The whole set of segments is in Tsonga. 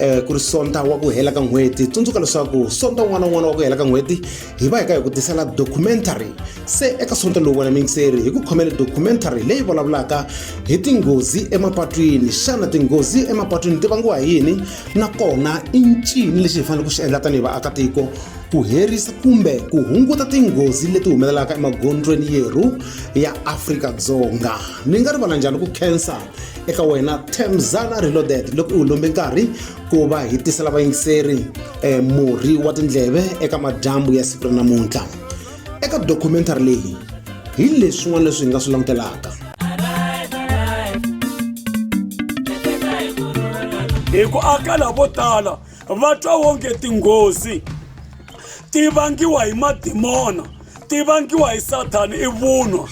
um ku ri sonta wa ku hela ka n'hweti tsundzuka leswaku sonta un'wana na un'wana wa ku hela ka n'hweti hi va hi ka hi ku tisela documentary se eka sonta lowu wena mingiseri hi ku khomele documentary leyi vulavulaka hi tinghozi emapatwini xana tinghozi emapatwini ti vangiwa hi yini nakona i ncini lexi hi fanele ku xi endla tanihi vaakatiko ku herisa kumbe ku hunguta tinghozi leti humelelaka emagondzweni yerhu ya afrika dzonga ni nga rivala njhani ku khensa eka wena temzana reloaded loko u lombe nkarhi ku va hi tisela vayingiseri eh, murhi wa tindleve eka madyambu ya siku ra namuntlha eka documentary leyi hi leswin'wana leswi hi nga swi langutelaka hi ku aka lavo tala va twa wonge tinghozi ti vangiwa hi madimona ti vangiwa hi sathana i vunwa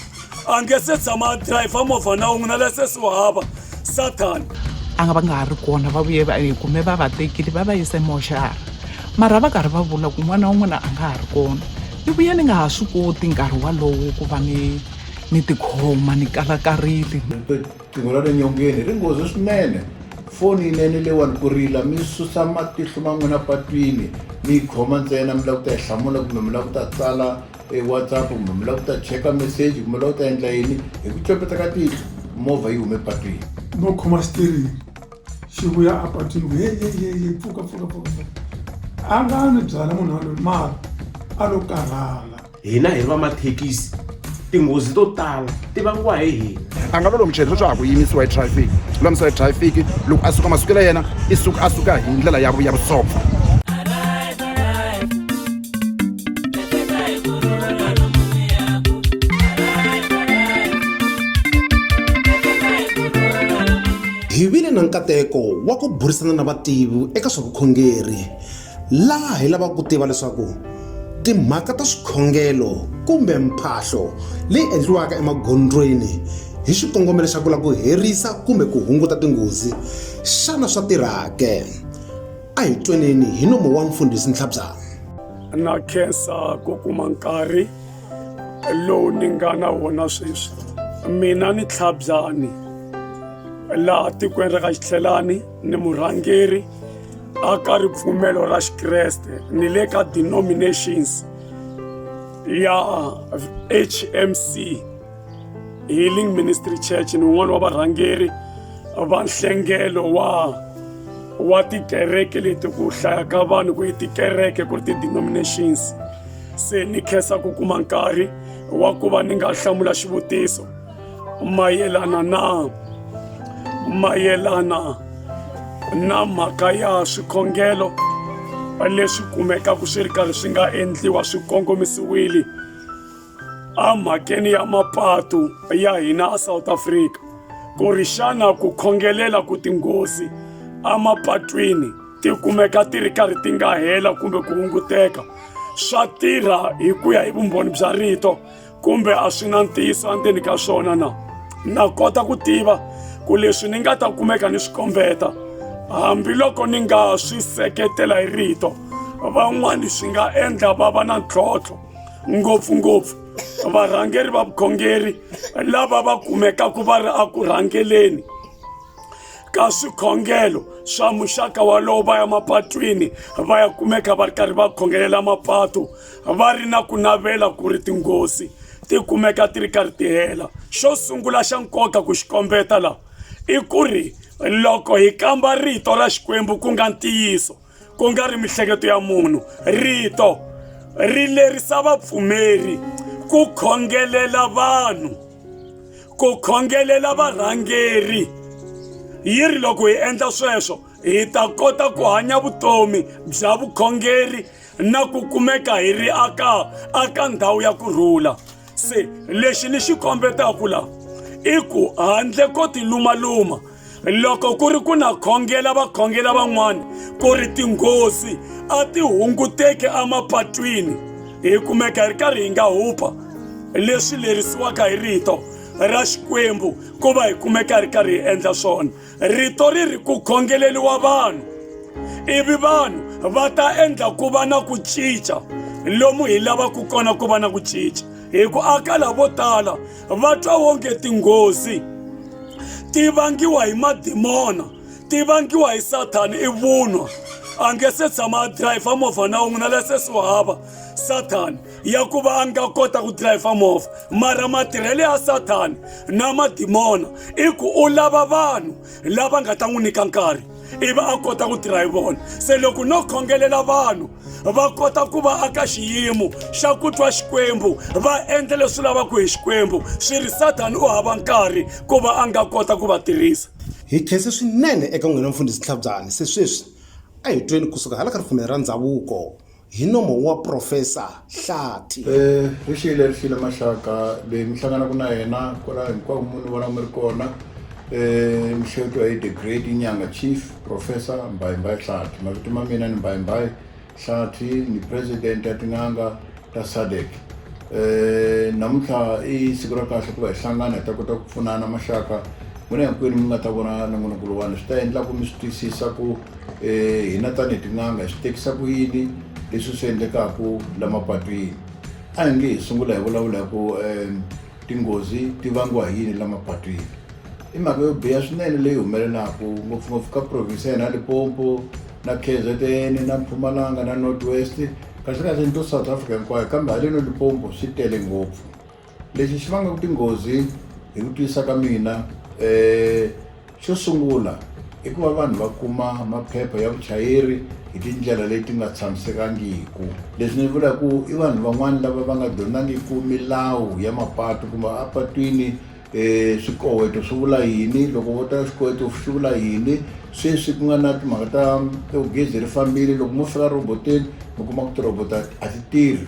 a nge se tshama a dirayivha movha na wun'we na lesesi wu hava sathana a nga va nga ha ri kona va vuye va kume va va tekile va va yise moxara mara va karhi va vula ku n'wana wa n'wina a nga ha ri kona ni vuye ni nga ha swi koti nkarhi walowo ku va ni ni tikhoma ni kalakarile Qingho ra le nyongeni ri nghozi swinene foni yinene leyiwani ku rila mi susa matihlo ma n'wina patwini mi yi khoma ntsena mi lava ku ta yi hlamula kumbe mi lava ku ta tsala e whatsapp kumbe mi lava ku ta cheka meseji kumbe lava ku ta endla yini hi ku copeta ka tihlo movha yi hume patwini no khoma xitirini xi vuya a patwini ku heyeyeye pfuka pfuka pfuka a nga ni byala munhu waloyi mara a lo karhala hina hi ri va mathekisi tinghozi to tala ti vangiwa hi hina a nga lolo muchayeri leswaku ku yimisiwa hi traffic lulamisela hi traffic loko a suka masiku la yena i suka a suka hi ndlela ya ya vusopfa hi vile na nkateko wa ku burisana na vativi eka swa vukhongeri Laha hi lavaka ku tiva leswaku timhaka ta swikhongelo kumbe mphahlo leyi endliwaka emagondzweni hi xikongomelo xa ku lava ku herisa kumbe ku hunguta tinghozi xana swa tirhake a hi tweneni hi nomo wa mfundhisi ntlhabzana na khensa ku kuma nkarhi lowu ni nga na wona sweswi mina ni tlhabyani laha tikweni ra ka xitlhelani ni murhangeri a ka ripfumelo ra xikreste ni le ka denominations ya hmc healing ministry church ni un'wana wa varhangeri va nhlengelo wa wa tikereke leti ku hlaya ka vanhu ku yi tikereke ku ri ti-denominations se ni khensa ku kuma nkarhi wa ku va ni nga hlamula xivutiso mayelana na mayelana na mhaka ya swikhongelo leswi kumekaka swi ri karhi swi nga endliwa swi kongomisiwile emhakeni ya mapatu ya hina asouth africa ku ri xana ku khongelela ku tinghozi emapatwini ti kumeka ti ri karhi ti nga hela kumbe ku hunguteka swa tirha hi ku ya hi vumbhoni bya rito kumbe a swi na ntiyiso endzeni ka swona na na kota ku tiva ku leswi ni nga ta kumeka ni swi kombeta hambiloko ni nga swi seketela hi rito van'wani swi nga endla va va na ntlhontlho ngopfungopfu varhangeri va vukhongeri lava va kumekaka va ri eku rhangeleni ka swikhongelo swa muxaka walowo va ya mapatwini va ya kumeka va ri karhi va khongelela mapatu va ri na ku navela ku ri tinghozi ti kumeka ti ri karhi ti hela xo sungula xa nkoka ku xi kombeta laha i ku ri loko hi kamba rito ra xikwembu ku nga ntiyiso ku nga ri mihleketo ya munhu rito ri lerisa vapfumeri ku khongelela vanhu ku khongelela varhangeri yi ri loko hi endla sweswo hi ta kota ku hanya vutomi bya vukhongeri na ku kumeka hi ri aka aka ndhawu ya ku rhula se lexi ni xi kombetaka la i ku handle ko tilumaluma loko ku ri ku na khongela vakhongela van'wana ku ri tinghozi a ti hunguteki emapatwini hi kumeka hi ri karhi hi nga hupa leswi lerisiwaka hi rito ra xikwembu ku va hi kumeka hi ri karhi hi endla swona rito ri ri ku khongeleriwa vanhu ivi vanhu va ta endla ku va na ku cinca lomu hi lavaka kona ku va na ku cinca hi ku aka lavo tala va twa wonge tinghozi ti vangiwa hi madimona ti vangiwa hi sathana i vunwa a nge se tshama a dirayivha movha na wun'we na lesesi wa hava sathana ya ku va a nga kota ku dirayivha movha mara matirhelo ya sathana na madimona i ku u lava vanhu lava nga ta n'wi nyika nkarhi ivi a kota ku tirha hi vona se loko no khongelela vanhu va kota ku va aka xiyimo xa ku twa xikwembu va endla leswi lavaka hi xikwembu swi ri sathana u hava nkarhi ku va a nga kota ku va tirhisa hi khense swinene eka n'wina mfundhisi nhlabyani se sweswi a hi tweni kusuka hala ka ripfumelo ra ndhavuko hi nomo wa Profesa Hlathi. Ri xiyile ri xiyile maxaka leyi mi hlanganaku na yena kwala hinkwako muni vona mi ri kona mi xewetiwa hi the great Inyanga Chief Profesa Mbayimbayi Hlathi mavito ma mina ni Mbayimbayi Hlathi ni President ya tin'anga ta SADC namuntlha i siku ra kahle ku va hi hlangana hi ta kota ku pfunana maxaka n'wina hinkwenu mi nga ta vona nongonoko lowani swi ta endla ku mi swi twisisa ku Eh, hina tanihi tin'anga hi swi tekisa ku yini leswi swi endlekaka la mapatwini a hi nge hi sungula hi vulavula hi ku um tinghozi ti vangiwa hi yini la mapatwini i mhaka yo biha swinene leyi humelelaka ngopfungopfu ka province ya hina lipompo na k z n na mpfumalanga na north west kahlekahle ni to south africa hinkwayo kambe haleno lipompo swi tele ngopfu Lexi xi vangaka tinghozi hi ku twisisa ka mina xo sungula i ku va vanhu va kuma maphepha ya vuchayeri hi tindlela leti nga tshamisekangiku leswi ni vula ku i vanhu van'wani lava va nga dyondzangiku milawu ya mapatu kumbe a patwini um swikoweto swi vula yini loko vo ta xikoweto xi vula yini sweswi ku nga na timhaka ta to gezi ri fambile loko mo fika rhoboteni mi kuma ku tirhoboto a ti tirhi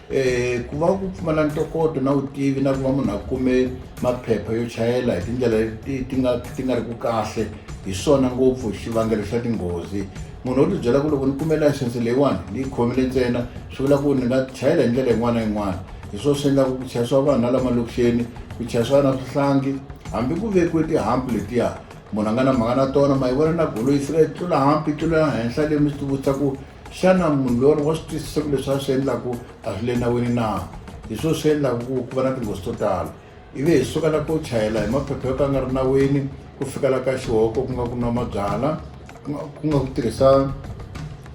Eh, ku va ku pfumala ntokoto na vutivi na ku va munhu a kume maphepha yo chayela hi tindlela ti nga ti nga ri ku kahle hi swona ngopfu xivangelo xa tinghozi munhu wo tibyela ku loko ni kume layisense leyiwani ni yi khomile ntsena swi vula ku ni nga chayela hi ndlela yin'wana na yin'wana hi swona swi endlaka ku chayisiwa vanhu na lama lokixeni ku chayisiwa na swihlangi hambi ku vekiwe tihampu letiya munhu a nga na mhaka na tona ma yi vona na golo yi fika yi tlula hampi yi tlula henhla leyi mi swi tivutisa ku Xana munhu loyi wa swi twisisa ku leswi a swi endlaku a swi le nawini na hi swo swi endlaku ku ku va na tinghozi to tala ivi hi suka la ku chayela hi maphepha yo ka nga ri nawini ku fika la ka xihoko ku nga ku nwa mabyala ku nga ku tirhisa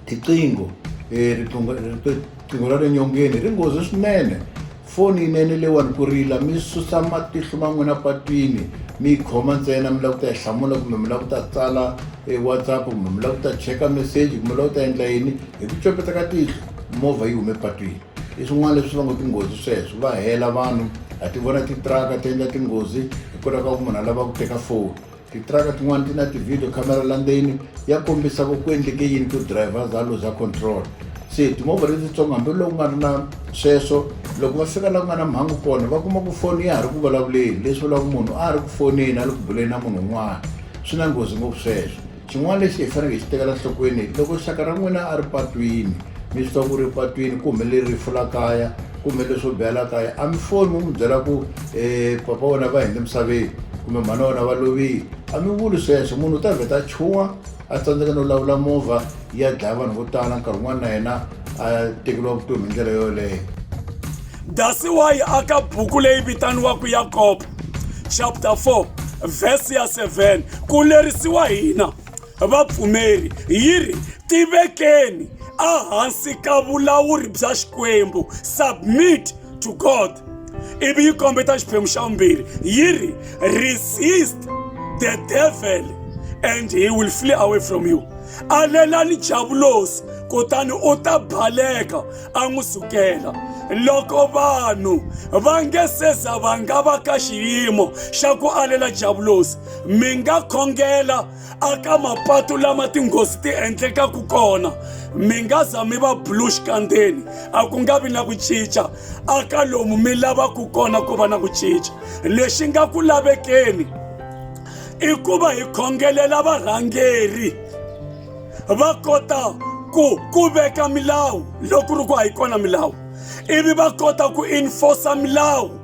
tiqingho um riqingho ra le nyongeni ri nghozi swinene Foni yinene leyiwani ku rila mi susa matihlo ma n'wina patwini mi yi khoma ntsena mi lava ku ta yi hlamula kumbe mi lava ku ta tsala e whatsapp kumbe mi lava ku ta cheka meseji kumbe mi lava ku ta endla yini hi ku copeta ka tihlo movha yi hume patwini i swin'wana leswi va ngo tinghozi sweswo va hela vanhu ha ti vona titiraka ti endla tinghozi hikwalaho ka ku munhu a lava ku teka foni Titiraka tin'wana ti na ti-video camera la ndzeni ya kombisa ku ku endleke yini ku driver za luza control se timovha letitsongo hambiloko ku nga ri na sweswo loko va fika la ku nga na mhangu kona va kuma ku foni ya ha ri ku vulavuleni leswi vulaka munhu a ha ri ku foneni a le ku buleni na munhu un'wana swi na nghozi ngopfu sweswo xin'wana lexi hi faneleke hi xi tekela nhlokweni loko xaka ra n'wina a ri patwini mi swi twa ku ri patwini ku humelele rifu la kaya ku humelele swo biha la kaya a mi foni mi n'wi byela ku um papa wena va hende misaveni kumbe mhana wena va lovile a mi vuli sweswo munhu u ta vheta a chuwa a tsandzeka no lawula movha ya dlaya vanhu vo tala nkarhi wun'wana na yena a tekeriwa vutomi hi ndlela yoleyo dasi wa yi aka buku leyi vitaniwaka yakobo chapter 4 vhesi ya 7 ku lerisiwa hina vapfumeri yi ri tivekeni ehansi ka vulawuri bya xikwembu submit to god ivi yi kombeta xiphemu xa vumbirhi yi ri resist the devil and he will flee away from you alelani javulosi kutani u ta baleka a n'wi sukela loko vanhu va nge se za va nga va ka xiyimo xa ku alela javulosi mi nga khongela aka mapatu lama tinghozi ti endlekaka kona mi nga za mi va bulu xikandzeni a ku nga vi na ku cinca aka lomu mi lavaka kona ku va na ku cinca lexi nga ku lavekeni i ku va hi khongelela varhangeri va kota ku ku veka milawu loko ri ku a yi kona milawu ivi va kota ku enforce milawu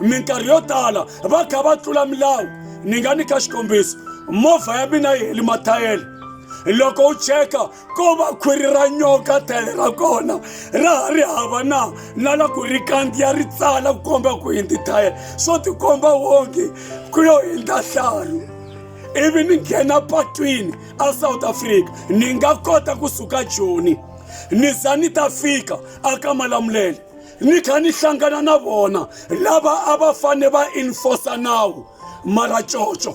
minkarhi yo tala va kha va tlula milawu ni nga nyika xikombiso movha ya mina yi heli mathayele loko u cheka ko va khwiri ra nyoka thayele ra kona ra ha ri hava na na la ku ri kandziya ri tsala ku komba ku hindzi thayele swo tikomba wonge ku yo hindza hlaru ivi ni nghena patwini a south africa ni nga kota ku suka joni ni za ni ta fika a ka malamulele ni kha ni hlangana na vona lava a va fane va enforce nawu mara coco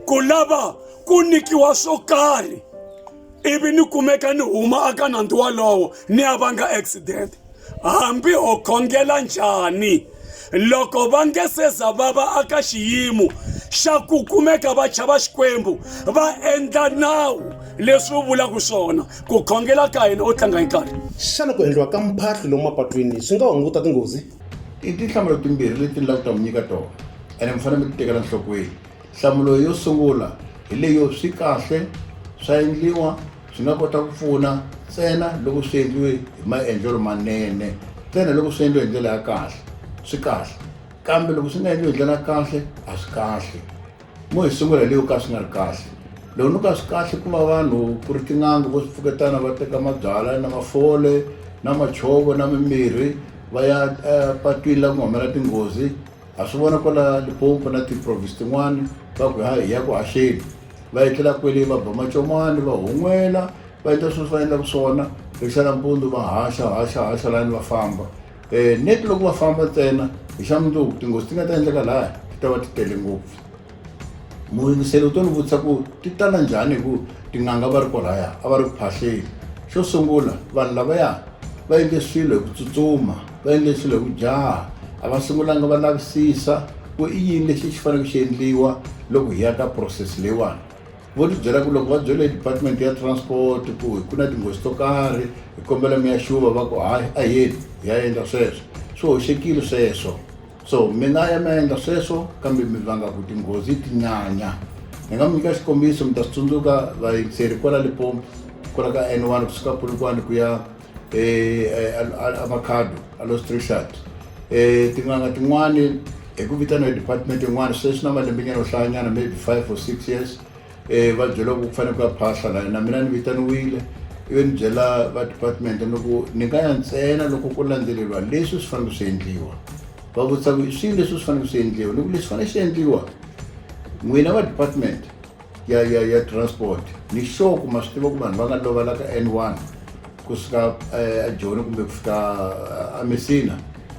ku lava ku nikiwa swo karhi ivi ni kumeka ni huma aka nandzu walowo ni ya vanga accident hambi ho khongela njhani loko va nge se za va va aka xiyimo xa ku kumeka va chava xikwembu va endla nawu leswi wu vulaka swona ku khongela ka hina u tlanga hi nkarhi xana ku endliwa ka mphahlo lomu mapatwini swi nga hunguta tinghozi i tinhlamulo timbirhi leti ni lava ku ta mi nyika tona ene mi fanele mi ti tekela nhlokweni nhlamulo yo sungula hi leyo swi kahle swa endliwa Swi nga kota ku pfuna ntsena loko swi endliwe hi maendlelo manene ntsena loko swi endliwe hi ndlela ya kahle swi kahle kambe loko swi nga endliwe hi ndlela ya kahle a swi kahle mo hi sungula hi leyo ka swi nga ri kahle loko ni ka swi kahle ku va vanhu ku ri tin'anga vo swi pfuketana va teka mabyalwa na mafole na machovo na mimirhi va ya epatwini la ku nga humelela tinghozi Ha swi vona kwala Limpopo na tiprovince tin'wana va ku hi ya ku haxeni va etlela kwele va ba macomani va hun'wela va endla sweswi va endlaka swona hi xa nampundzu va haxa haxa haxa lani va famba um net loko va famba ntsena hi xa mundzuku tinghozi ti nga ta endleka laya ti ta va ti tele ngopfu muyingiseli u to ni vutisa ku ti tala njhani hi ku tin'anga va ri kwalaya a va ri ku phahleni xo sungula vanhu lavaya va endle swilo hi ku tsutsuma va endle swilo hi ku jaha a va sungulanga va lavisisa ku i yini lexi xi faneleke xi endliwa loko hi ya ka process leyiwani vo ti byela ku loko va byele hi department ya transport ku ku na tinghozi to karhi hi kombela mi ya xuva va ku hayi a yeni hi ya endla sweswo swi hoxekile sweswo so mi nga ya mi ya endla sweswo kambe mi vanga ku tinghozi ti nyanya ni nga mi nyika xikombiso mi ta swi tsundzuka vayingiseri kwala lipompo kwala ka n one kusuka polokwane ku ya emakhado eh, alo strishard um eh, tin'anga tin'wani hi ku vitaniwa hi department yin'wana sweswi na malembenyana yo hlayanyana maybe five or six years um va byela ku ku fanele ku ya phahla la na mina ni vitaniwile ivi ni byela va department ni ku ni nga ya ntsena loko ku landzeleriwa leswi swi fanele swi endliwa va vutisa ku swilo leswi swi fanele swi endliwa ni ku leswi fanele swi endliwa n'wina va department ya ya ya transport ni sure ku ma swi tiva ku vanhu va nga lova la ka N one kusuka ajoni kumbe kufika amesina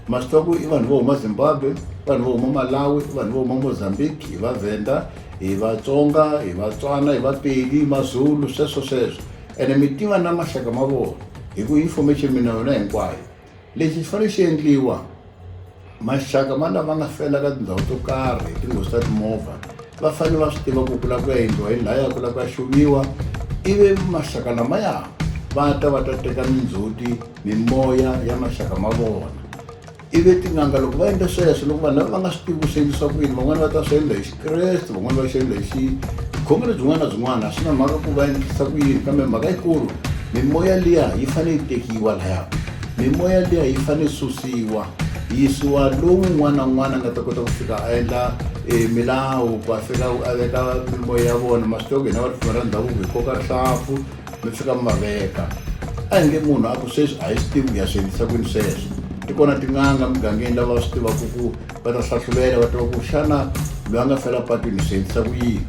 ma swi tiva ku i vanhu vo huma zimbabwe vanhu vo huma malawi vanhu vo huma mozambique hi vavhenda hi vatsonga hi vatswana hi vapedi mazulu sweswo sweswo ene mi tiva na maxaka ma vona hi ku information mi na yona hinkwayo lexi xi fanele xi endliwa maxaka ma lava nga fela ka tindhawu to karhi hi tinghozi ta timovha va fanele va swi tiva ku ku lava ku ya endliwa hi laya ku lava ku ya xuluyiwa ivi maxaka lamaya va ta va ta teka mindzhuti mimoya ya maxaka ma vona ivi tin'anga loko va endla sweswo loko vanhu lava va nga swi tivi ku swi endlisa ku yini van'wani va ta swi endla hi Kreste van'wana va xilo lexi vukhongeri byin'wana na byin'wana swi na mhaka ku va endlisa ku yini kambe mhaka yikulu mimoya liya yi fanele yi tekiwa laya mimoya liya yi fanele yi susiwa yisiwa lowu un'wana na un'wana a nga ta kota ku fika a endla um milawu ku a fika a veka mimoya ya vona ma swi tiva ku hina va ripfumela ndhavuko hi koka rihlampfu mi fika mi va veka a hi nge munhu a ku sweswi a hi swi tivi ku ya swi endlisa kwini sweswo ti kona tin'anga mugangeni lava swi tivaka ku va ta hlahlulela va tiva ku xana loyi a nga fela patwini swi endlisa ku yini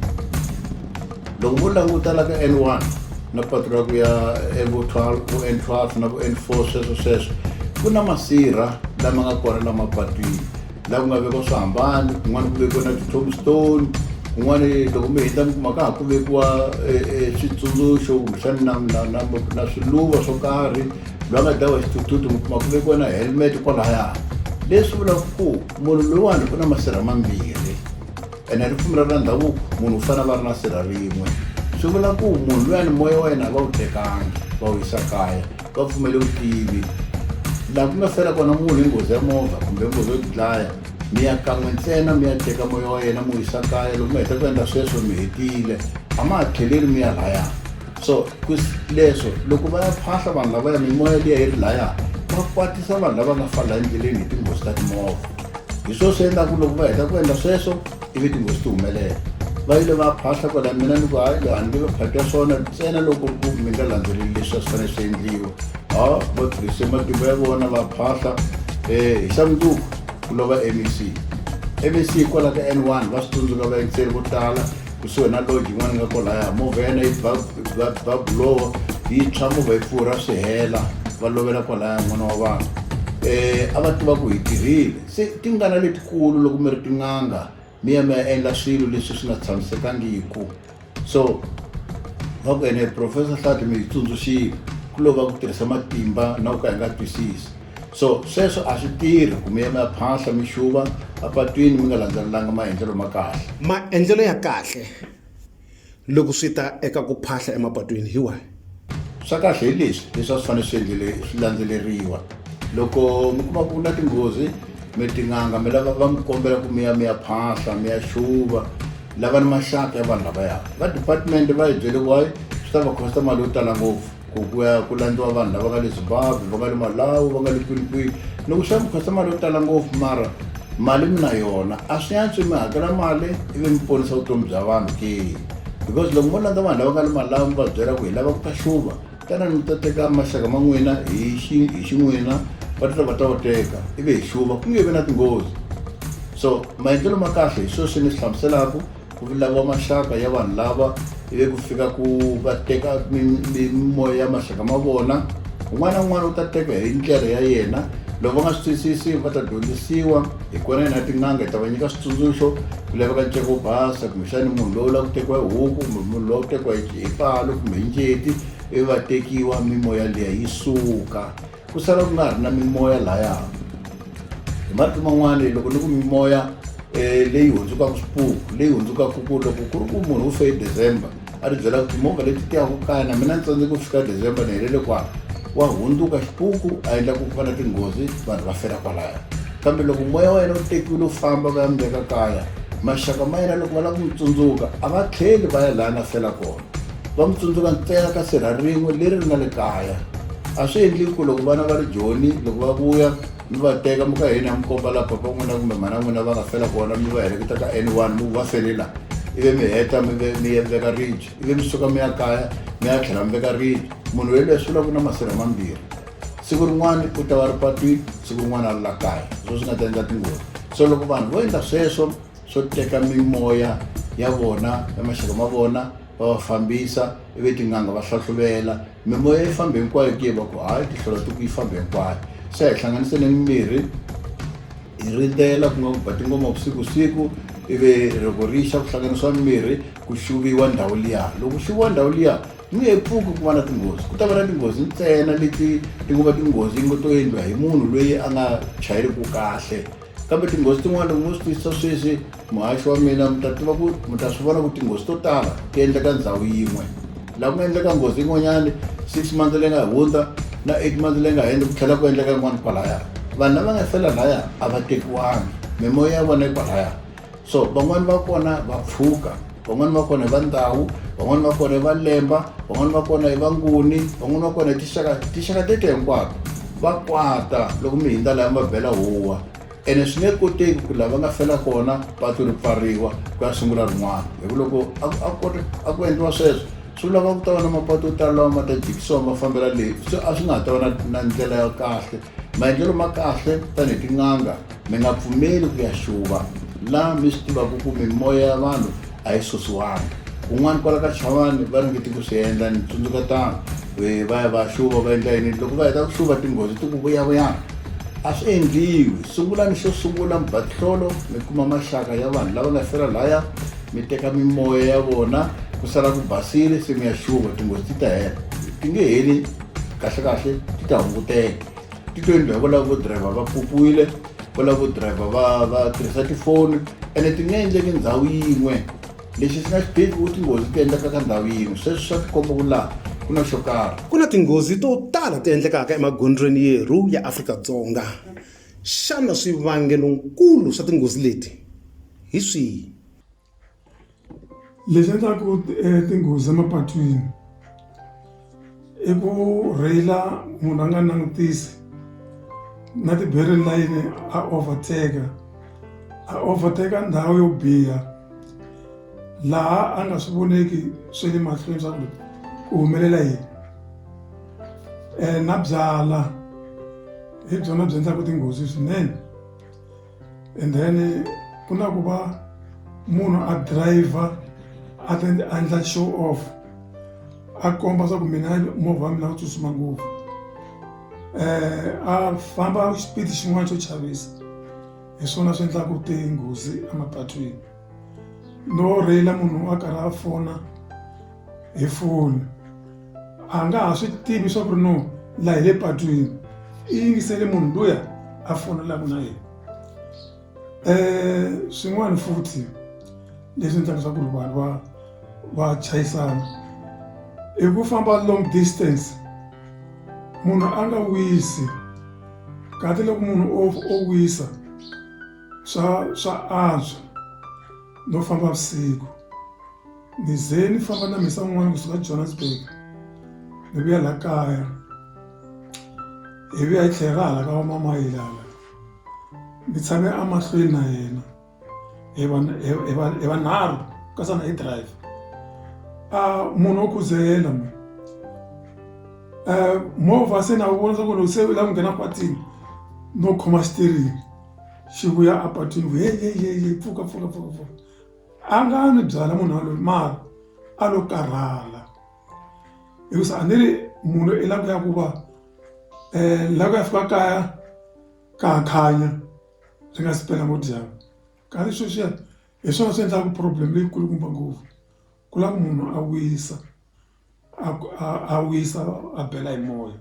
loko vo languta la ka n one na patu ra ku ya vo twelve vo n twelve na vo n four sweswo sweswo ku na masirha lama nga kona lama patwini laha ku nga vekiwa swihambani kun'wana ku vekiwa na ti-tom stone kun'wana loko mi hindza mi kuma ka ha ku vekiwa switsundzuxo kumbexani na na na na swiluva swo karhi loyi a nga dlawa xithuthuthu mi kuma ku vekiwa na helmet kwalaya leswi vulaka ku munhu loyiwani u na masirha mambirhi ene ripfumelo ra ndhavuko munhu u fanele va ri na sirha rin'we swi vula ku munhu loyani moya wa yena a va wu tekanga va wu yisa kaya va pfumele vutivi laha ku nga fela kona munhu hi nghozi ya movha kumbe nghozi yo dlaya mi ya kan'we ntsena mi ya teka moya wa yena mi wu yisa kaya loko mi heta ku endla sweswo mi hetile a ma ha tlheleli mi ya lhaya so leswo loko va ya phahla vanhu lavaya mimoya liya yi ri laya va kwatisa vanhu lava nga fala endleleni hi tinghozi ta timovha hi swona swi endlaku loko va heta ku endla sweswo ivi tinghozi ti humelela va yile va phahla kwala mina ni ku hayi a ni nge va phakela swona ntsena loko ku mi nga landzeleli leswi a swi fanele swi endliwa ha va tirhise matimba ya vona va phahla um hi xa mundzuku ku lova mec mec hikwalaho ka n one va swi tsundzuka vayingiseri vo tala kusuhi na lodge yin'wana yi nga kolaya movha ya yena yi ba ba ba buloho yi tshwa movha yi pfurha swi hela va lovela kwalaya n'wana wa vanhu um a va tiva ku hi tirhile se tingana letikulu loko mi ri tin'anga mi ya mi ya endla swilo leswi swi nga tshamisekangiku so va ku ene professor hlati mi yi tsundzuxile ku lova ku tirhisa matimba na ku ka hi nga twisisi so sweswo a swi tirhi ku mi yema phahla mi xuva apatwini mi nga landzelelanga maendlelo ma kahle maendlelo ya kahle loko swi ta eka ku phahla emapatwini hi wahi swa kahle hi leswi leswi a swi fanele swi endlele swi landzeleriwa loko mi kuma ku na tinghozi mi tin'anga mi lava va mi kombela ku mi ya mi ya phahla mi ya xuva lava ni maxaka ya vanhu lavaya va department va hi byele wayi swi ta va khosta mali yo tala ngopfu ku ku ya ku landziwa vanhu lava nga le zimbabwe va nga le malawi va nga le kwinikwini ni ku xava mukhasa mali yo tala ngopfu mara mali mi na yona a swi yantswi mi hakela mali ivi mi ponisa vutomi bya vanhu ke because loko mo landza vanhu lava nga le malawi mi va byela ku hi lava ku ta xuva tana mi ta teka maxaka ma n'wina hi xin'wina va tita va ta va teka ivi hi xuva ku nge vi na tinghozi so maendlelo ma kahle hi sweswi ni swi hlamuselaka ku vulaviwa maxaka ya vanhu lava ivi ku fika ku va teka mimoya ya maxaka ma vona un'wana na un'wana u ta teka hi ndlela ya yena loko va nga swi twisisi va ta dyondzisiwa hi kona yena tin'anga hi ta va nyika switsundzuxo ku laveka nceko wo basa kumbexani munhu lowu lava ku tekiwa hi huku kumbe munhu lowa ku tekiwa hi palo kumbe hi njeti ivi va tekiwa mimoya liya yi suka ku sala ku nga ha ri na mimoya laya hi marito man'wani loko ni ku mimoya um leyi hundzukaka swipuku leyi hundzukaka ku loko ku ri ku munhu u fe hi december a ri byelaka timovha leti tiyaka kaya na mina ni tsandze ku fika december ni helele kwa wa hundzuka xipuku a endla ku fana tinghozi vanhu va fela kwalaya kambe loko moya wa yena u tekiwile u famba va ya mi veka kaya maxaka ma yena loko va lava ku mi tsundzuka a va tlheli va ya laha na fela kona va mi tsundzuka ntsena ka sirha rin'we leri ri nga le kaya a swi endli ku loko vana va ri joni loko va vuya mi va teka mi ka hina mi komba laha papa n'wina kumbe mhana n'wina va nga fela kona mi va heleketa ka n one mi va felela ivi mi heta mi veka ribye ivi mi suka mi ya kaya mi ya tlhela mi veka ribye munhu wa yelweyo swi vula ku na masirha mambirhi siku rin'wana u ta va ri patwini siku rin'wana a ri la kaya swo swi nga ta endla tinghozi so loko vanhu vo endla sweswo swo teka mimoya ya vona ya maxaka ma vona va va fambisa ivi tin'anga va hlahluvela mimoya yi famba hinkwayo ke va ku hayi tihlolo ti ku yi famba hinkwayo se hi hlanganise ni mimirhi hi rindzela ku nga ku ba tingoma vusiku siku ivi loko ri xa ku hlanganisiwa mimirhi ku xuviwa ndhawu liya loko ku xuviwa ndhawu liya ni nge pfuki ku va na tinghozi ku ta va na tinghozi ntsena leti ti ngo va tinghozi yi ngo to endliwa hi munhu loyi a nga chayeliki kahle kambe tinghozi tin'wana mi swi twisisa sweswi muhaxi wa mina mi ta tiva ku mi ta swi vona ku tinghozi to tala ti endleka ndhawu yin'we laha ku nga endleka nghozi yin'wanyani six months leyi nga hundza na eight months leyi nga hundza ku tlhela ku endleka yin'wana kwalaya vanhu lava nga fela laya a va tekiwangi mimoya ya vona yi kwalaya so van'wani va kona va pfuka van'wani va kona i va ndhawu van'wani va kona i va lemba van'wani va kona i va nguni van'wani va kona i tixaka tixaka tete hinkwako va kwata loko mi hindza laya mi va bela huwa ene swi nge koteki ku lava nga fela kona patu ri pfariwa ku ya sungula rin'wana hi ku loko a ku endliwa sweswo swi vulaka ku ta va na mapatu yo tala lawa ma ta jikisiwa ma fambela leyi so a swi nga ha ta va na na ndlela ya kahle maendlelo ma kahle tanihi tin'anga mi nga pfumeli ku ya xuva laha mi swi tivaka ku mimoya ya vanhu a yi susiwanga kun'wana kwala ka chavani va ringeti ku swi endla ni tsundzuka tano e, va ya va xuva va endla yini loko va heta ku xuva tinghozi ti ku vuyavuyana a swi endliwi sungulani xo sungula mbatlholo mi kuma maxaka ya vanhu lava nga fela laya mi teka mimoya ya vona ku sala ku basile se mi ya xuva tinghozi ti ta hela ti nge heli kahlekahle ti ta hunguteka ti to endliwa va lava vo driver va pupuwile va lava vo driver va va tirhisa tifoni ene ti nga endleki ndhawu yin'we lexi xi nga xi tivi ku tinghozi ti endleka ka ndhawu yin'we sweswi swa tikomba ku laha ku na xo karhi ku na tinghozi to tala ti endlekaka emagondzweni yerhu ya afrika-dzonga xana swivangelonkulu swa tinghozi leti hi swihi Leswi endlaku tinghozi emapatwini i ku rheyila munhu a nga langutisi na ti-barrier layini a overtake a overtake ndhawu yo biha laha a nga swi voneki swa le mahlweni swa ku ku humelela yini na byala hi byona byi endlaku tinghozi swinene. and then ku na ku va munhu a driver a ta a endla show off a komba swa ku mina movha wa mina wu tsutsuma ngopfu um a famba xipidi xin'wana xo chavisa hi swona swi endlaka tinghozi emapatwini no rila munhu a karhi a fona hi foni a nga ha swi tivi swa ku ri no laha hi le patwini i yingisele munhu luya a fonelaka na yena um swin'wana futhi leswi endlaka swa ku ri vanhu va va chayisana i ku famba long distance munhu a nga wisi kahle loko munhu o o wisa swa swa antswa no famba vusiku ni ze ni famba na mhisa un'wana kusuka johannesburg ni vuya la kaya hi vuya hi tlhela ra hala ka vamamayile hala ni tshame emahlweni na yena hi va- hi- hi va- hi vanharhu kasana hi drive a munhu wo khuzela mwe um movha se na wu vonisa ku loko se u lava ku nghena patini no khoma xitirini xi vuya a patwini ku hehehe pfuka pfuka pfuka pfuka a nga ni byala munhu waloyi mara a lo karhala hikusa a ni ri munhu i lava ku ya ku va um la ku ya fika kaya ka ha khanya ri nga si pela ngo dyambu kasi sweswiya hi swona swi endlaka problem leyikulukumba ngopfu ku lava munhu a wisa. a ku a a wisa a bela hi moya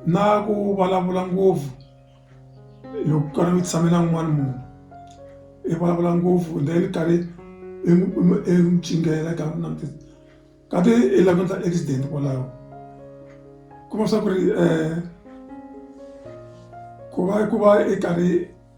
na ku vulavula ngopfu loko ku karhi ku tshame na un'wana munhu i vulavula ngopfu then karhi i n'wi i n'wi cingela ka na ti ka ti i lava ku endla accident kwalaho kuma swa ku ri ku va ku va i karhi.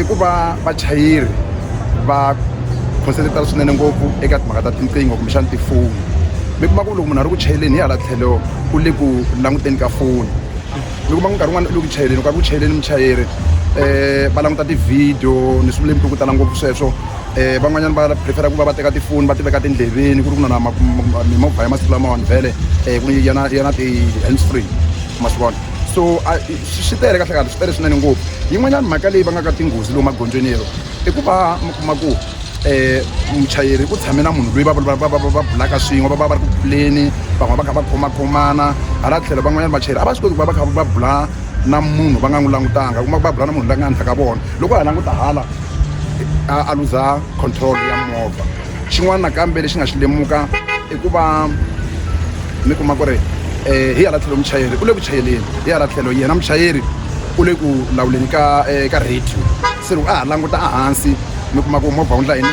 i ku va vachayeri va concentrate-a swinene ngopfu eka timhaka ta tinqingho kumbexana tifoni mi kuma ku loko munhu a ri ku chayeleni hi hala tlhelo u le ku languteni ka foni mi kuma ku nkarhi wun'wana u le ku chayeleni nkarhi ku chayeleni muchayeri um va languta tivhidiyo ni swi vula hi ku ku tala ngopfu sweswo um van'wanyana va prefere-a ku va va teka tifoni va ti veka tindleveni ku ri ku na na mimovha ya masiku lamawani vhele um ku yana yana ti-hands free ma swi vona so a swi tele kahle kahle swi tele swinene ngopfu yin'wanyana mhaka leyi va nga ka tinghozi lowu magondzweni yero i ku va mi kuma ku um muchayeri u tshame na munhu loyi va va bulaka swin'we va va va ri ku buleni van'wana va kha va khomakhomana hala tlhelo van'wanyana vachayeri a va swi koti ku va va kha va bula na munhu va nga n'wi langutanga u kuma ku va bula na munhu la nga henhla ka vona loko a languta hala a a luza control ya movha xin'wana nakambe lexi nga xi lemuka i ku va mi kuma ku ri um hi hala tlhelo muchayeri u le ku chayeleni hi hala tlhelo yena muchayeri u le ku lawuleni ka um ka radio se loko a ha languta ehansi mi kuma ku movha wu ndla yini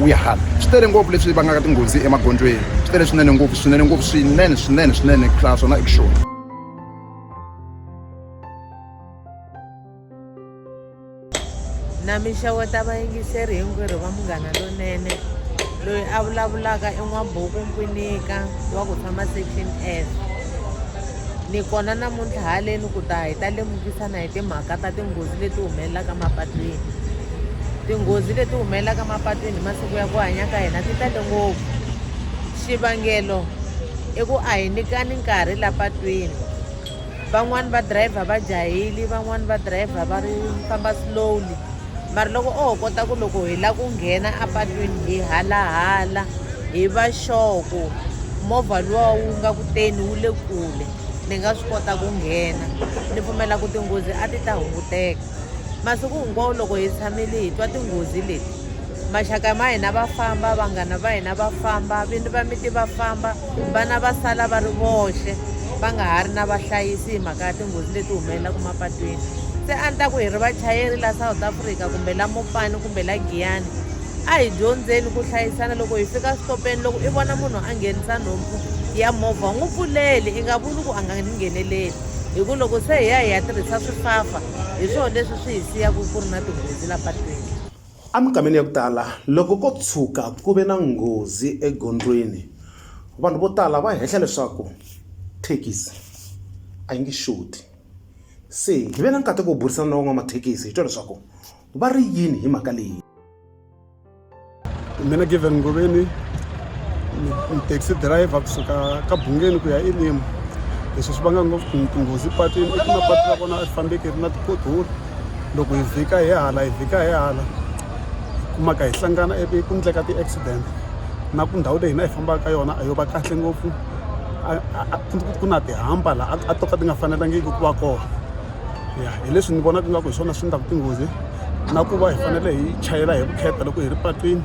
wu ya hala swi tele ngopfu leswi vangaka tinghozi emagondzweni swi tele swinene ngopfu swinene ngopfu swinene swinene swinene ku tlula swona i ku xona. na minxavo ta vayingiseri hinkwerhu va munghana lonene loyi a vulavulaka i n'wabuku mpfinika wa ku tshama section s ni kona namuntlha haleni ku ta hi ta lemukisana hi timhaka ta tinghozi leti humelelaka mapatwini tinghozi leti humelelaka mapatwini hi masiku ya ku hanya ka hina ti tale ngopfu xivangelo i ku a hi nyikani nkarhi la patwini van'wani va driver va jaheli van'wani va driver va ri famba slowly mara loko o ho kota ku loko hi la ku nghena apatwini hi halahala hi va xoko movha luwa wu nga ku teni wu le kule ni nga swi kota ku nghena ni pfumela ku tinghozi a ti ta hunguteka masiku hinkwawo loko hi tshamile hi twa tinghozi leti maxaka ma hina va famba vanghana va hina va famba vini va miti va famba vana va sala va ri voxe va nga ha ri na vahlayisi hi mhaka ya tinghozi leti humelelaka mapatwini se a ni ta ku hi ri vachayeri la south africa kumbe la mopani kumbe la giyani a hi dyondzeni ku hlayisana loko hi fika switopeni loko i vona munhu a nghenisa nhompfu ya movha n'wi pfuleli i nga vuli ku a nga ni ngheneleli hi ku loko se hi ya hi ya tirhisa swifafa hi swona leswi swi hi siyaka ku ri na tinghozi la patwini Eminkhameni ya ku tala, loko ko tshuka ku ve na nghozi egondzweni, vanhu vo tala va hehla leswaku thekisi a yi nge xoti. Se hi ve na nkateko wo burisana na van'wamathekisi hi twa leswaku va ri yini hi mhaka leyi. Mina Given Ngobeni, ni taxi driver kusuka ka Bungeni ku ya eLimu. Leswi swi vanga ngopfu tinghozi epatwini i ku mapatu ya kona a swi fambeki ri na ti-pothole. loko hi vhika hi hala hi vhika hi hala kumaka hi hlangana ivi ku endleka ti-accident na ku ndhawu leyi hina hi fambaka ka yona a yo va kahle ngopfu ku na tihamba laha a to ka ti nga fanelangiki ku va kona ya hi leswi ni vonaka ingaku hi swona swi endlaka tinghozi na ku va hi fanele hi chayela hi vukheta loko hi ri patwini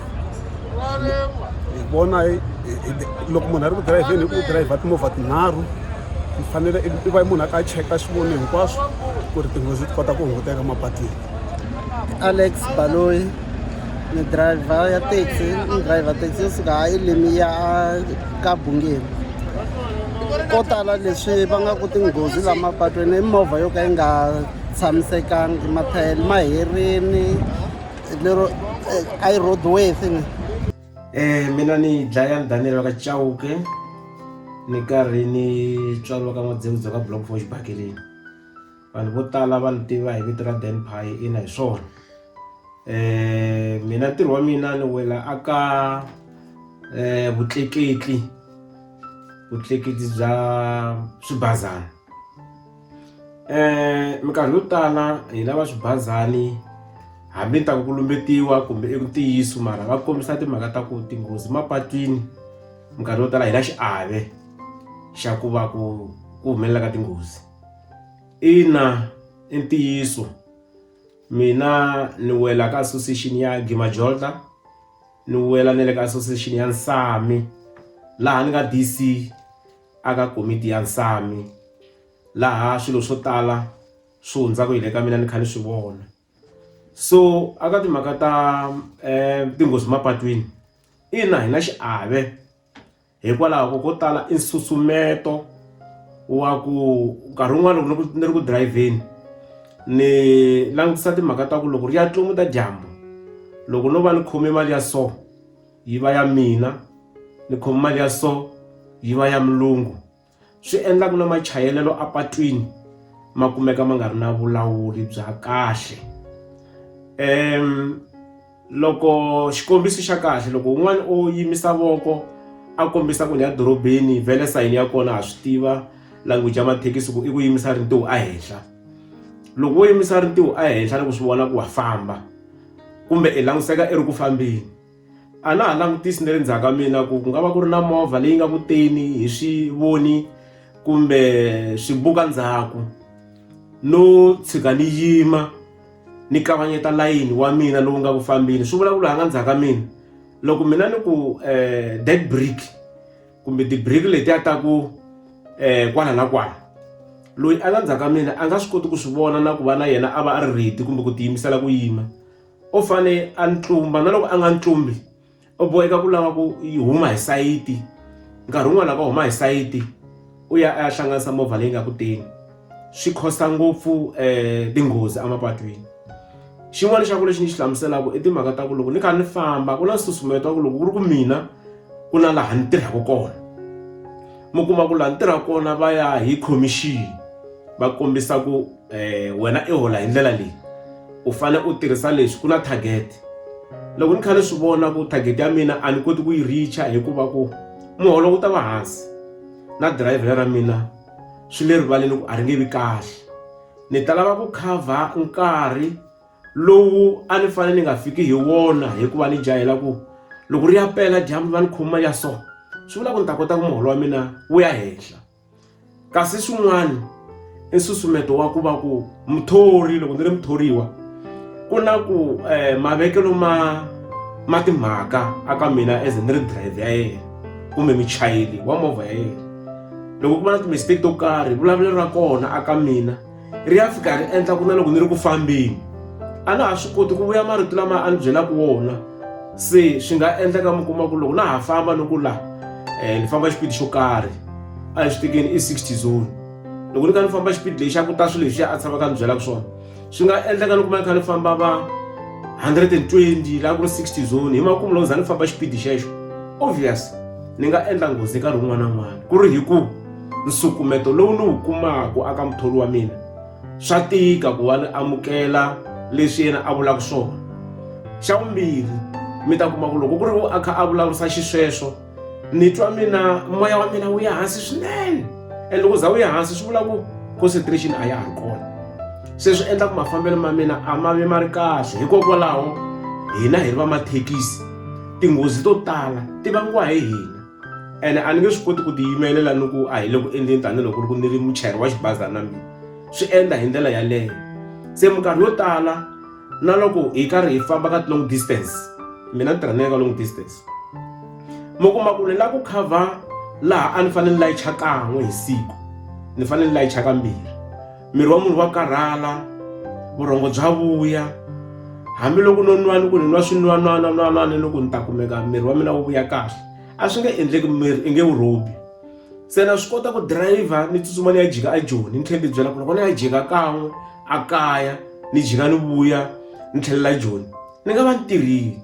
hi vona loko munhu a ri ku dirayivheni hi ku dirayivha timovha tinharhu mi fanele i va munhu a ka cheka swivoni hinkwaswo ku ri tinghozi ti kota ku hunguteka mapatwini alex baloyi ni driver ya taxi ni driver taxi yo suka ha elimi ya ka bungeni ko tala leswi va nga ku tinghozi la mapatwini i movha yo ka yi nga tshamisekangi mathayele ma herini lero eh, i road way thing Eh mina ni dlaya Daniel wa ka Chauke ni karhi ni tswariwa ka N'wadzewudza ka Block for xibakeleni vanhu vo tala va ni tiva hi vito ra Dan Pie ina hi swona eh mina ntirho wa mina ni wela aka eh vutleketli vutleketli bya swibazana minkarhi yo tala hi lava swibazani hambi ni ta ku lumbetiwa kumbe i ntiyiso mara va kombisa timhaka ta ku tinghozi mapatwini minkarhi yo tala hi na xiave xa ku va ku ku humelela ka tinghozi ina i ntiyiso mina ni wela ka association ya gimajolta ni wela na le ka association ya nsami laha ni nga D_C. aka komiti ya nsami laha swilo swo tala swi hundzaka hi le ka mina ni kha ni swi vona so aka timhaka ta um tinghozi mapatwini ina hi na xiave hikwalaho ko ko tala i nsusumeto wa ku nkarhi wun'wana loko ni ri ku dirayivheni ni langutisa timhaka ta ku loko ri ya tlumu ta dyambu loko no va ni khome mali ya so yi va ya mina ni khome mali ya so yi va ya mulungu swi endla ku na machayelelo apatwini ma kumeka ma nga ri na vulawuri bya kahle um loko xikombiso xa kahle loko un'wana o yimisa voko a kombisa ku ni ya dorobeni vele sayini ya kona ha swi tiva language ya mathekisi ku i ku yimisa rintiwo ehenhla loko wo yimisa rintiwo ehenhla loko swi vona ku wa famba kumbe i langutiseka i ri ku fambeni a na ha langutisi ni ri ndzhaku ka mina ku ku nga va ku ri na movha leyi nga kuteni hi swi voni kumbe swi buka ndzhaku no tshika ni yima ni kavanyeta layini wa mina lowu nga ku fambini swi vulavula ha nga ndzhaku ka mina loko mina ni ku um eh, that brick kumbe ti-brick letiya ta ku um eh, kwala na kwala loyi a nga ndzhaku ka mina a nga swi koti ku swi vona na ku va na yena a va a ri ready kumbe ku tiyimisela ku yima o fane a ni tlumba na loko a nga ni tlumbi u boheka ku lava ku yi huma hi sayiti nkarhi wun'wana lava huma hi sayiti u ya a ya hlanganisa movha leyi nga ku teni swi costa ngopfu um tinghozi emapatwini xin'wana xa ku lexi ni xi hlamuselaka i timhaka ta ku loko ni kha ni famba ku na nsusumeto wa ku loko ku ri ku mina ku na laha ni tirhaka kona mi kuma ku laha ni tirhaka kona va ya hi khomixini va kombisa ku um wena i hola hi ndlela leyi u fanele u tirhisa leswi ku na target loko ni kha ni swi vona ku target ya mina a ni koti ku yi richa hikuva ku muholo wu ta va hansi na dirayivhela ra mina swi le rivaleni ku a ri nge vi kahle ni ta lava ku cover nkarhi lowu a ni fanele ni nga fiki hi wona hikuva ni jahela ku loko ri ya pela dyambu va ni khoma ya so swi vula ku ni ta kota ku muholo wa mina wu ya henhla kasi swin'wana i nsusumeto wa ku va ku muthori loko ni ri muthoriwa ku na ku um mavekelo ma ma timhaka aka mina as ni ri drive ya yena kumbe muchayeli wa movha ya yena loko ku va na timistake to karhi vulavulelo ra kona aka mina ri ya fika ri endla ku na loko ni ri ku fambeni a na ha swi koti ku vuya marito lama a ni byelaka wona se swi nga endleka mi kuma ku loko na ha famba ni ku laha um ni famba xipidi xo karhi a hi swi tekeni i sixty zone loko ni kha ni famba xipidi lexi a ku ta swilo leswi a tshama ka ni byelaka swona swi nga endleka ni kuma ni kha ni famba va hundred and twenty laha ku ri sixty zone hi makumu loko za ni famba xipidi xexo obvious ni nga endla nghozi nkarhi wun'wana na wun'wana ku ri hi ku nsukumeto lowu ni wu kumaka aka muthori wa mina swa tika ku va ni amukela leswi yena a vulaka swona xa vumbirhi mi ta kuma ku loko ku ri u a kha a vulavurisa xisweswo ni twa mina moya wa mina wu ya hansi swinene and loko za wu ya hansi swi vula ku concentration a ya ha ri kona se swi endla ku mafambelo ma mina a ma vi ma ri kahle hikokwalaho hina hi ri va mathekisi tinghozi to tala ti vangiwa hi hina ene a ni nge swi koti ku tiyimelela ni ku a hi le ku endleni tanihiloko ri ku ni ri muchayeri wa xibazana mina swi endla hi ndlela yaleyo se minkarhi yo tala na loko hi karhi hi famba ka long distance mina ni tirha ni ya ka long distance mi kuma ku ni la ku cover laha a ni fanele ni layicha kan'we hi siku ni fanele ni layicha kambirhi miri wa munhu wa karhala vurhongo bya vuya hambiloko no nwani ku ni nwa swinwanwana nwanani loko ni ta kumeka miri wa mina wu vuya kahle a swi nge endleki miri i nge wu rhobi se na swi kota ku dirayivha ni tsutsuma ni ya jika a joni ni tlhela ni byela ku loko ni ya jika kan'we a kaya ni jika ni vuya ni tlhelela joni ni nga va ni tirhile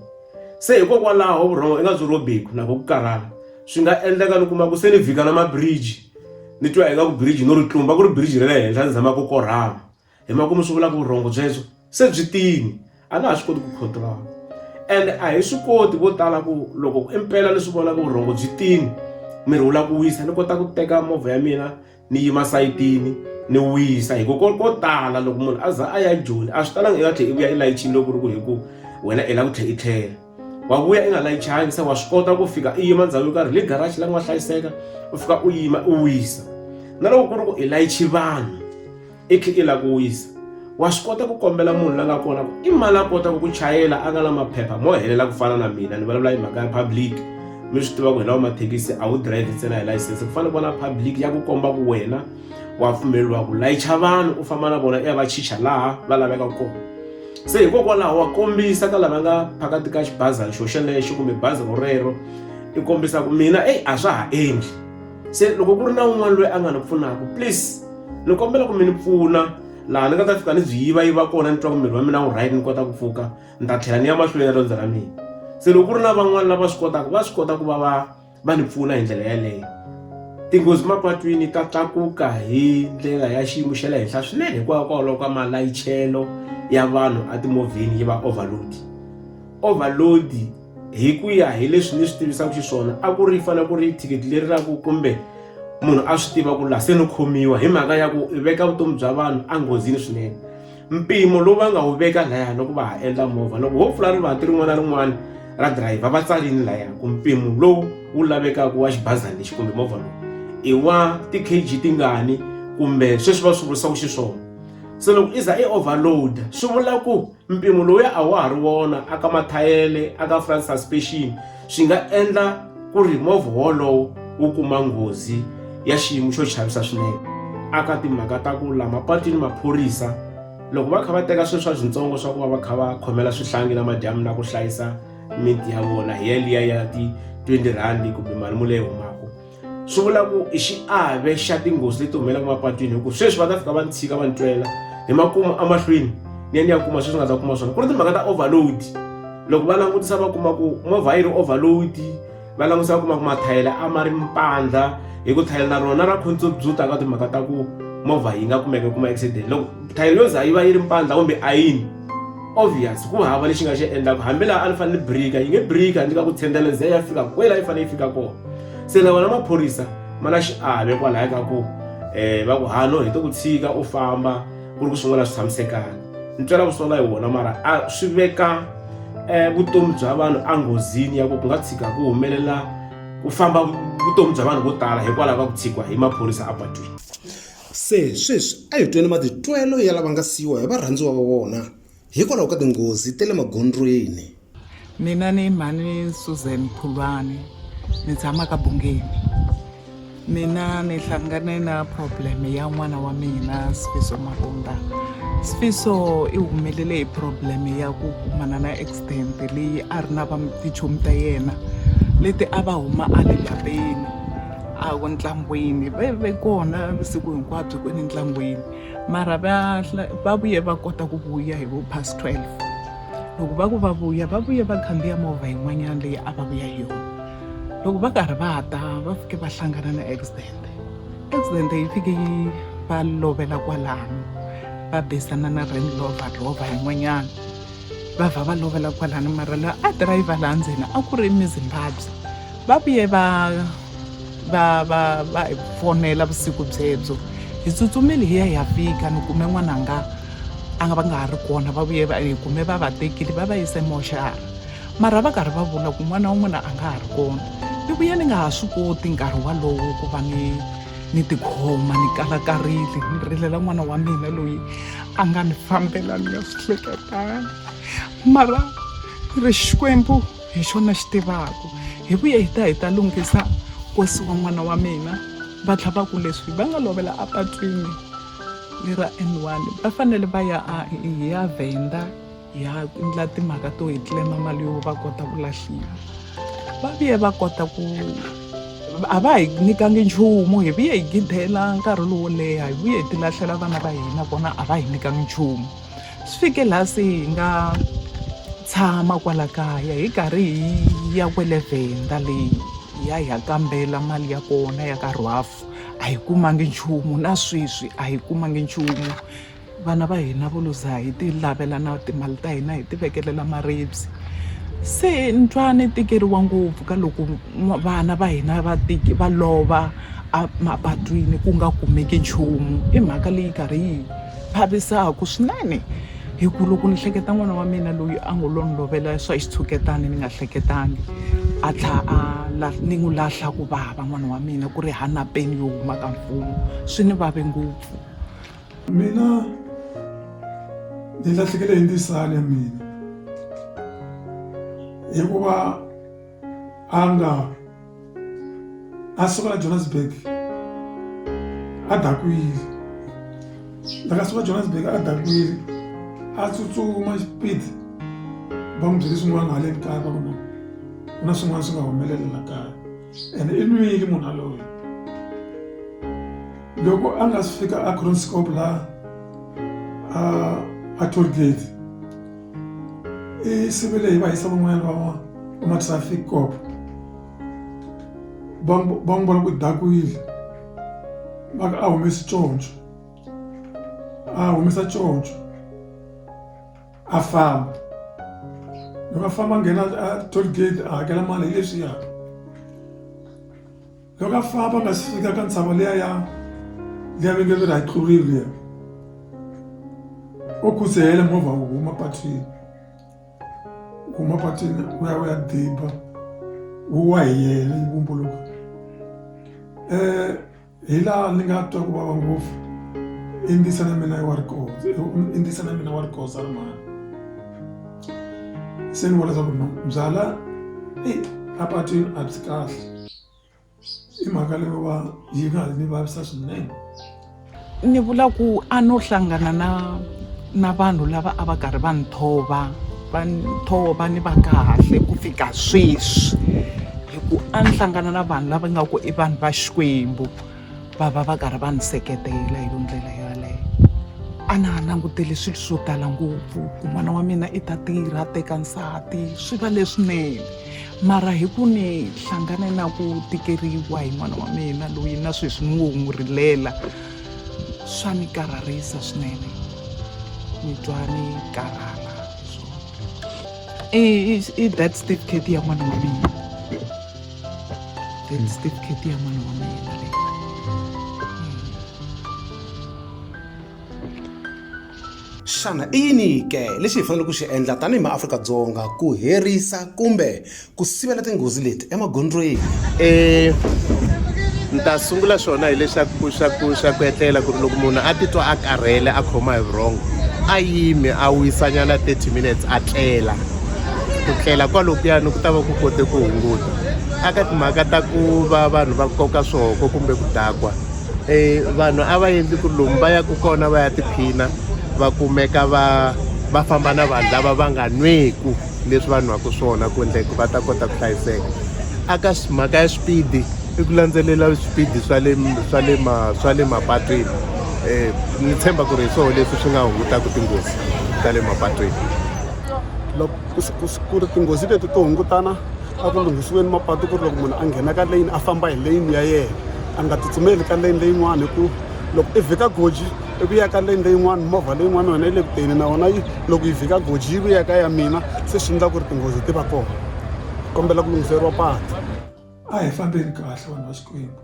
se hikokwalaho vurhongo i nga byi rhobeki na ku ku karhala swi nga endleka ni kuma ku se ni vhika na mabiriji ni twa ingaku biriji no ri tlumba ku ri biriji ra le henhla ni zama ku korhama hi makumu swi vula ku vurhongo byebyo se byi tini a nga ha swi koti ku controla and a hi swi koti vo tala ku loko impela ni swi vona ku vurhongo byi tini miri wu la ku wisa ni kota ku teka movha ya mina ni yima sayitini ni wisa hi ku ko ko tala loko munhu a za a ya joni a swi talanga i nga tlhe i vuya i layichini loko ku ri ku hi ku wena i la ku tlhe i tlhela wa vuya i nga layichanga se wa swi kota ku fika i yima ndhawu yo karhi le garage la ku nga hlayiseka u fika u yima u wisa na loko ku ri ku i layichi vanhu i khe i la ku wisa wa swi kota ku kombela munhu la nga kona ku i mali a kotaka ku chayela a nga na maphepha mo helela ku fana na mina ni vulavula hi mhaka ya public mi swi tiva ku hi lawa mathekisi a wu drive ntsena hi layisense ku fanele ku va na public ya ku komba ku wena wa pfumeleriwa ku layicha vanhu u famba na vona i ya va chicha laha va laveka kona se hikokwalaho wa kombisa ka lava nga phakati ka xibazana xo xelexo kumbe bazi ro rero i kombisa ku mina eyi a swa ha endli se loko ku ri na un'wana loyi a nga ni pfunaka please ni kombela ku mi ni pfuna laha ni nga ta fika ni byi yiva yiva kona ni twa ku miri wa mina wu right ni kota ku pfuka ni ta tlhela ni ya mahlweni ya riendzo ra mina se loko ku ri na van'wani lava swi kotaka va swi kota ku va va va ni pfuna hi ndlela yaleyo tinghozi mapatwini ta tlakuka hi ndlela ya xiyimo xa le henhla swinene hikwalaho ka malayichelo ya vanhu etimovheni yi va overload overload hi ku ya hi leswi ni swi tivisaka xiswona a ku ri fanele ku ri thikithi leri ra ku kumbe munhu a swi tiva ku la se no khomiwa hi mhaka ya ku veka vutomi bya vanhu enghozini swinene mpimo lowu va nga wu veka laya loko va ha endla movha loko ho pfula rivanti rin'wana na rin'wana ra dirayivha va tsarini laya ku mpimo lowu wu lavekaka wa xibazana lexi kumbe movha lowu i wa ti-kg tingani kumbe sweswi va swi vurisaka xiswona se loko i za i overload swi vula ku mpimo lowuya a wa ha ri wona aka mathayele aka front suspension swi nga endla ku ri movha wolowo wu kuma nghozi ya xiyimo xo chavisa swinene aka timhaka ta ku la mapatwini maphorisa loko va kha va teka swilo swa swintsongo swa ku va va kha va khomela swihlangi na madyamu na ku hlayisa miti ya vona hi yaliya ya ti-twenty rhandi kumbe mali mule yi humaka swi vula ku i xiave xa tinghozi leti humelaka mapatwini hikuva sweswi va ta fika va ni tshika va ni twela hi makumu emahlweni ni ya ni ya kuma sweswi nga ta kuma swona ku ri timhaka ta overload loko va langutisa va kuma ku movha yi ri overload va langutisa va kuma ku mathayela a ma ri mpandla hi ku thayela na rona ra contribute-a ka timhaka ta ku movha yi nga kumeka kuma accident loko thayela yo za yi va yi ri mpandla kumbe ayini obvious ku hava lexi nga xi endlaka hambi laha a ni fanele ni brika yi nge brika ni ka ku tshendela ze ya fika kwela yi fanele yi fika kona se na vona maphorisa ma na xiave kwalaya ka ku um va ku hano hi to ku tshika u famba ku ri ku swin'wana swi tshamisekanga ni twela ku sola hi wona mara a swi veka um vutomi bya vanhu enghozini ya ku ku nga tshika ku humelela ku famba vutomi bya vanhu vo tala hikwalaho ka ku tshikiwa hi maphorisa apatwini Se sweswi a hi tweni matitwelo ya lava nga siyiwa hi varhandziwa va vona hikwalaho ka tinghozi ta le magondzweni. Mina ni mhani Susan Phulwani ni tshama ka Bungeni. Mina ni hlangane na problem ya n'wana wa mina Sfiso Mavundha. Sfiso i humelele hi problem ya ku kumana na accident leyi a ri na va tichomi ta yena leti a va huma a le lapeni. a ku ntlangwini va ve kona vusiku hinkwabyo kwini ntlangwini mara va va vuye va kota ku vuya hi vo past 12 loko va ku va vuya va vuye va khandziya movha yin'wanyana leyi a va vuya hi yona loko va karhi va ta va fike va hlangana na accident accident yi fike yi va lovela kwalano va besana na Range Rover Rover yin'wanyana va vha va lovela kwalano mara la a driver laha ndzeni a ku ri mi Zimbabwe Va vuye va va va va hi fonela vusiku byebyo hi tsutsumile hi ya hi ya fika ni kume n'wananga a nga va nga ha ri kona va vuye va hi kume va va tekile va va yise moxara mara va karhi va vula ku n'wana wa n'wina a nga ha ri kona ni vuye ni nga ha swi koti nkarhi walowo ku va ni ni tikhoma ni kalakarile ni rilela n'wana wa mina loyi a nga ni fambela ni nga swi hleketanga mara ri xikwembu hi xona xi tivaku hi vuye hi ta hi ta lunghisa kosi wa n'wana wa mina va tlha va ku leswi va nga lovela apatwini lera n one va fanele va ya hi ya vhenda hi ya endla timhaka to hi tlema mali yo va kota ku lahliwa va vuye va kota ku a va hi nyikangi nchumu hi vuye hi gidela nkarhi lowo leha hi vuye hi tilahlela vana va hina vona a va hi nyikangi nchumu swi fike laha se hi nga tshama kwala kaya hi karhi hi ya kwele vhenda leyi hi ya hi ya kambela mali ya kona ya ka rwaf a hi kumangi nchumu na sweswi a hi kumangi nchumu vana va hina vo luza hi ti lavela na timali ta hina hi ti vekelela maribye se ni twa ni tikeriwa ngopfu ka loko vana va hina va va lova emapatwini ku nga kumeki nchumu i mhaka leyi karhi yi vavisaka swinene hi ku loko ni hleketa n'wana wa mina loyi a ngo lo ni lovela swa xitshuketani ni nga hleketangi a tlha a ni n'wi lahla ku vava n'wana wa mina ku ri hana peni yo huma ka mfumo swi ni vave ngopfu mina ni lahlekele hi ndzisana ya mina hikuva a nga a suka la johannesburg a dakwile laka suka johannesburg a dakwile a tsutsuma xipidi va n'wi byele swin'wana hale kaya va vona ku na swin'wana swi nga humelela la kaya ene i nwile munhu aloyi loko a nga si fika a cronscop laha a a toll gate e sebele e ba isa van'wanyana van'wana va ma-traffic cop va n'wi vona ku dakwile va ka a humesi conco a humesa conco a famba loko a famba a nghena a toll gate a hakela mali hi leswiya Loko a famba a nga si fika ka ntshava liya ya liya venge leri hi tlurile liya o khudzehela movha wu huma patwini huma patwini u ya u ya diba wu wa hi yena yi vumbuluka um hi laha ni nga twa ku vava ngopfu i ndisa na mina wa rikoza i ndisa na mina wa rikoza ri mani se ni vona leswaku no byala e apatwini a byi kahle i mhaka leyo va yi nga ni vavisa swinene ni vula ku a no hlangana na na vanhu lava a va karhi va nthova va nthova ni va kahle ku fika sweswi hi ku a ni hlangana na vanhu lava nga ku i vanhu va xikwembu va va va karhi va ni seketela hi yo ndlela yaleyo a na ha langutele swilo swo tala ngopfu ku n'wana wa mina i ta tirha a teka nsati swi va leswinene mara hi ku ni hlangane na ku tikeriwa hi n'wana wa mina loyi na sweswi ni ngo n'wi rilela swa ni karharisa swinene ni twa ni karhala i death certificate ya n'wana wa mina death certificate ya n'wana wa mina Xana i yini ke lexi hi faneleke ku xi endla tanihi maAfrika-Dzonga ku herisa kumbe ku sivela tinghozi leti emagondzweni? E ni ta sungula swona hileswaku swa ku swa ku etlela ku ri loko munhu a titwa a karhele a khoma hi vurhongo a yimi a wisanyana 30 minutes a tlela ku tlela kwalokuyani ku ta va ku kote ku hunguta aka timhaka ta ku va vanhu va koka swihoko kumbe ku dakwa e vanhu a va endli ku ri lomu va yaka kona va ya tiphina va kumeka va va famba na vanhu lava va nga nweku leswi va nwaka swona ku endla ku va ta kota ku hlayiseka aka mhaka ya swipidi i ku landzelela swipidi swa le swa le ma swa le mapatwini um ni tshemba ku ri hi swona leswi swi nga hungutaka tinghozi ta le mapatwini loko ku ri tinghozi leti to hungutana a ku lunghisiweni mapatu ku ri loko munhu a nghena ka leyini a famba hi leyini ya yena a nga tsutsumeli ka leyini leyin'wana hi ku loko i vhika goji i ku ya ka leyini leyin'wana movha leyin'wana yona yi le kuteni na yona yi loko yi vhika goji yi ku ya ka ya mina se swi endla ku ri tinghozi ti va kona kombela ku lunghiseriwa patu a hi fambeni kahle vanhu va xikwembu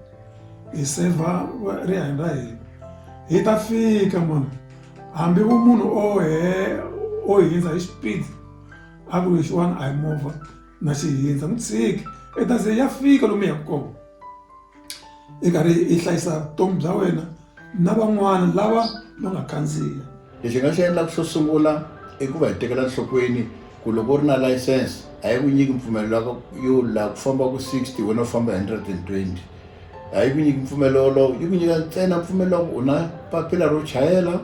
hi sevha rihanyo ra hina hi ta fika mani hambi vumunhu o he o hindza hi xipidi a ku ri xin'wana a hi movha na xihindza n'wi tshiki i ta ze ya fika lomu yaka kona i karhi i hlayisa vutomi bya wena na van'wana lava va nga khandziya lexi nga xi endlaka xo sungula i ku va hi tekela nhlokweni ku loko u ri na license a yi ku nyiki mpfumelelo yo la ku famba ku sixty wena u famba hundred and twenty a yi ku nyiki mpfumelelo wolowo yi ku nyika ntsena mpfumelelo ku u na papila ro chayela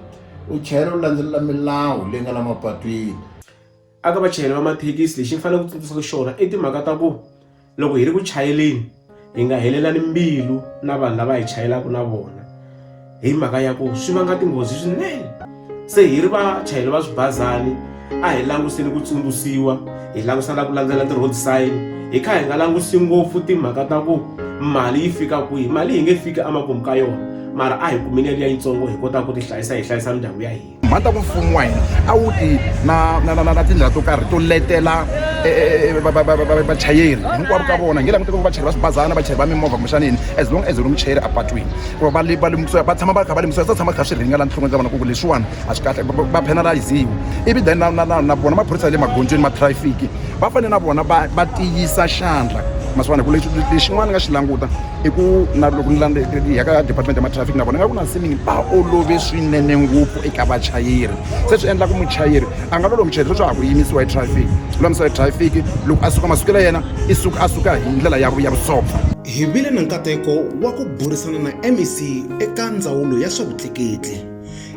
u chayela u landzelela milawu leyi nga la mapatwini aka vachayeri va mathekisi lexi ni faneleke ku tsundzuxaka xona i timhaka ta ku loko hi ri ku chayeleni hi nga helelani mbilu na vanhu lava hi chayelaka na vona hi mhaka ya ku swi vanga tinghozi swinene se hi ri vachayeri va swibazani a hi languseni ku tsundzuxiwa hi langusa na ku landzela ti-road sign hi kha hi nga langusi ngopfu timhaka ta ku mali yi fika kwihi mali yi nge fiki emakumu ka yona mara a hi kumeni yaliya yitsongo hi kota ku ti hlayisa hi hlayisa mindyangu ya hina mhani ta ku mfumo wa hina a wu ti na na na na tindlela to karhi to letela vachayeri hinkwavo ka vona nge langute ku vachayeri va swibazana vachayeri va mimovha kumbexana yini as long as ri muchayeri apatwini ku va va va lemukisiwa va tshama va kha va lemukisiwa swi tshama kha swi ringa la nhlokweni ta vona ku ku leswiwani a swi kahle va penalize-iwa ivi then na na na na vona maphorisa ya le magondzweni ma traffic va fanele na vona va va tiyisa xandla ma swi vona ku lexi lexin'wana ni nga xi languta i ku na loko ni landza hi ya ka department ya matrafiki na vona nga ku na siningi va olove swinene ngopfu eka vachayeri se swi endla ku muchayeri a nga loloha muchayeri sweswi a ha ku yimisiwa hi traffic lulamisiwa hi traffic loko a suka masiku la yena i suka a suka hi ndlela ya ya vusopfa hi vile na nkateko wa ku burisana na mec eka ndzawulo ya swa vutleketli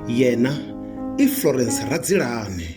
yena i florence radzilane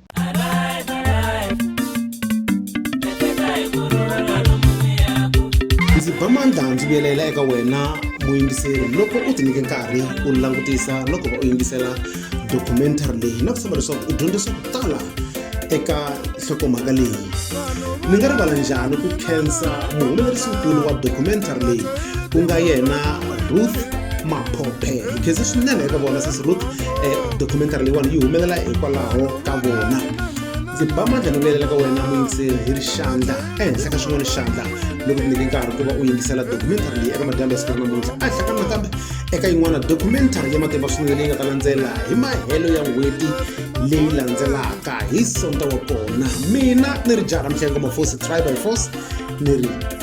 ndzi ba mandla ndzi vuyelela eka wena muyingiseri loko u tinyike nkarhi u langutisa loko va u yingisela documentary leyi na ku tshemba leswaku u dyondza swa ku tala eka nhlokomhaka leyi ni nga rivala njhani ku khensa muhumelerisinkulu wa documentary leyi ku nga yena ruth maphophe hi khense swinene eka vona sesi ruth eh, documentary leyiwani yi humelela hikwalaho ka vona ndzi ba mandla ni vuyelela ka wena muyingiseri hi ri xandla ehenhla ka xin'wana xandla loko ku nyike nkarhi ku va u yingisela documentary leyi eka madyambe ya siku ra namuntlha a hlakana nakambe eka yin'wana documentary ya matimba swinene leyi nga ta landzela hi mahelo ya n'hweti leyi landzelaka hi sonta wa kona mina ni ri jaha ra mihlengo mafosi try by force ni ri